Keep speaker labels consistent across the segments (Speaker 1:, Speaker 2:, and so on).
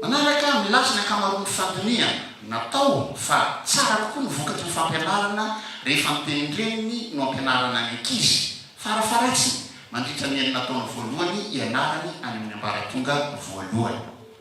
Speaker 1: Manaraka amin'ny lafiny ankamaroan'ny fandinihana natao fa tsara kokoa ny vokatry ny fampianarana rehefa ny tenin-dreniny no ampianarana ny ankizy, farafaharatsiny, mandritra ny enina taona voalohany ianarany any amin'ny ambaratonga voalohany.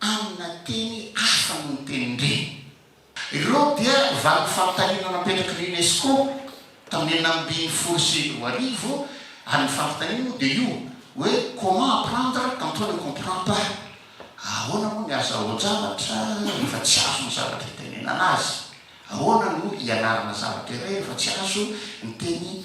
Speaker 1: Amina teny hafa noho ny tenin-dreny. Ireo dia valim-panontaniana napetrak'i ny Unesco tamin'ny enina ambin'ny folo sy roa arivo ary ny fanontaniana moa dia io hoe comment apprendre quand on ne comprend pas, ahoana moa ny azahoan-javatra rehefa tsy azo ny zavatra itenenana azy, ahoana no hianarana zavatra iray rehefa tsy azo ny teny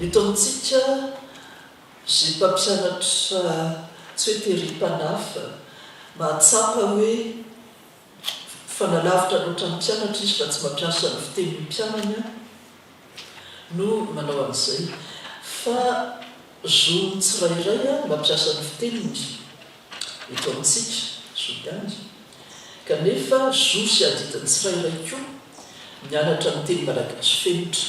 Speaker 2: Eto amintsika, izay mpampianatra tsy hoe tery
Speaker 3: mpanafa, mahatsapa hoe fanalavitra loatra ny mpianatra izy fa tsy mampiasa ny fitenin'ny mpianany aho no manao an'izay. Fa zon'ny tsirairay ny mampiasa ny fiteniny eto amintsika, zo ihany. Kanefa zo sy adidin'ny tsirairay koa ny mianatra ny teny malagasy fenitra.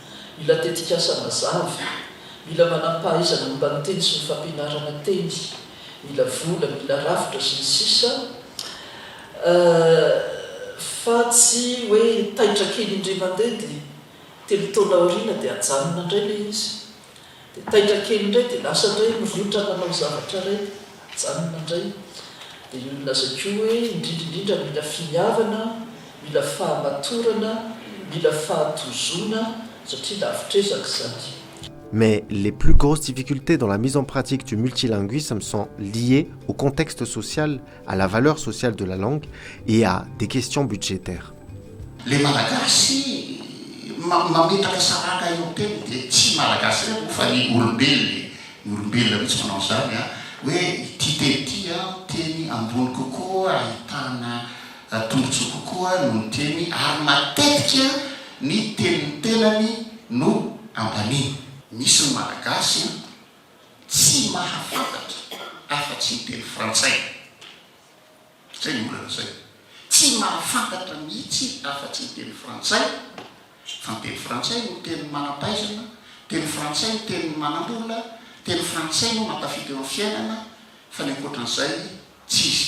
Speaker 3: Mila tetikasa mazava, mila manampahaizana momba ny teny sy ny fampianarana teny, mila vola, mila rafitra, sy ny sisa Fa tsy hoe taitra kely indray mandeha dia telo taona aoriana dia ajanona indray ilay izy. Dia taitra kely indray dia lasa indray mirotra manao zavatra iray dia ajanona indray. Dia io nolazaiko io hoe indrindra indrindra mila finiavana, mila fahamatorana, mila fahatozoana satria lavitr'ezaka izany. Mais
Speaker 2: les plus grosses difficultés dans la mise en pratique du multilinguisme sont liées au contexte social à la valeur sociale de la langue et à des questions budgétaires. Le
Speaker 1: malagasy mametraka saranga eo teny dia tsy malagasy irery moa fa ny olombelona e, ny olombelona mihitsy manao an'izany a, hoe ity teny ity a teny ambony kokoa ahitana tombotsoa kokoa noho ny teny ary matetika ny tenin'ny tenany no ambaniny. Misy ny malagasy a. Tsy mahafantatra afa-tsy ny teny frantsay. Izay no mbola lazainy. Tsy mahafantatra mihitsy afa-tsy ny teny frantsay, fa ny teny frantsay no tenin'ny manam-pahaizana, teny frantsay no tenin'ny manam-bola, teny frantsay no mahatafita eo amin'ny fiainana, fa ny ankoatran'izay tsy izy.